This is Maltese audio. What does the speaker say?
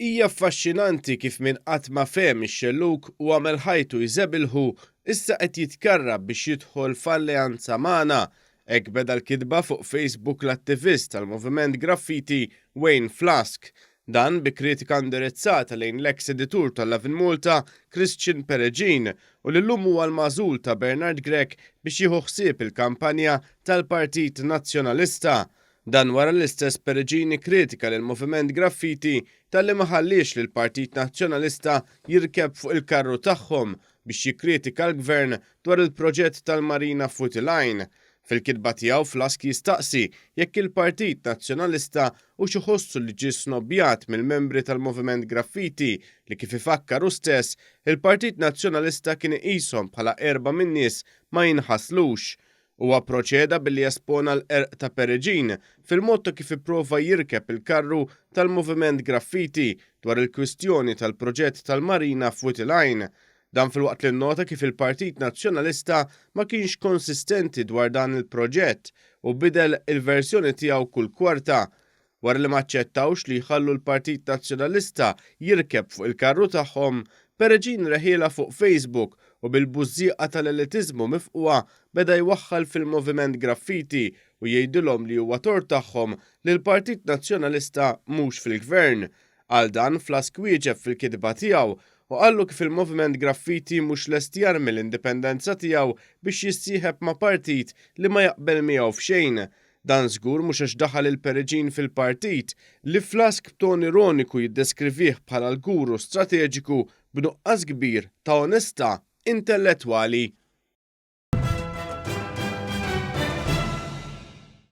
Hija affaxxinanti kif min qatt ma fehem ix-xellug u għamel ħajtu jżebilħu, issa qed jitkarrab biex jidħol f'alleanza magħna. Hekk beda l-kitba fuq Facebook l-attivist tal-moviment graffiti Wayne Flask. Dan bi kritika indirizzata lejn l-eks editur ta' Lovin' Malta, Christian Peregin, u li llum huwa l-magħżul ta' Bernard Grech biex jieħu ħsieb il-kampanja tal-Partit Nazzjonalista. Dan wara li l-istess Peregin ikkritika lill-Moviment Graffiti talli ma ħalliex lill-Partit Nazzjonalista jirkeb fuq il-karru tagħhom biex jikkritika l-Gvern dwar il-proġett tal-Marina Futi Line. Fil-kitba tiegħu Flask jistaqsi jekk il-Partit Nazzjonalista hux iħossu li ġie snobbjat mill-membri tal-Moviment Graffiti li kif ifakkar hu stess, il-Partit Nazzjonalista kien iqishom bħala qerba minn nies ma jinħaslux. Huwa pproċeda billi espona l-qerq ta' Pereġin fil-mod ta' kif ipprova jirkeb il-karru tal-Moviment Graffiti dwar il-kwistjoni tal-proġett tal-marina f'Wied il-Għajn. Dan filwaqt li nnota kif il-Partit Nazzjonalista ma kienx konsistenti dwar dan il-proġett u bidel il-verżjoni tiegħu kull kwarta, wara li ma aċċettawx li jħallu l-Partit Nazzjonalista jirkeb fuq il-karru tagħhom, Peregin Reħiela fuq Facebook u bil-bużżieqa tal-elitiżmu mifqwa beda jwaħħal fil-Moviment Graffiti u jgħidilhom li huwa tort tagħhom li l-Partit Nazzjonalista mhux fil-Gvern. Għal dan Flask wieġeb fil-kitba tiegħu u qallu kif il-Moviment Graffiti mhux lest jarmi l-indipendenza tiegħu biex jissieħeb ma' partit li ma jaqbel miegħu f'xejn. Dan żgur mhux għax daħal il-Periġin fil-partit, li Flask b'ton ironiku jiddeskrivih bħala l-guru strateġiku b'nuqqas kbir ta' onestà intellettwali.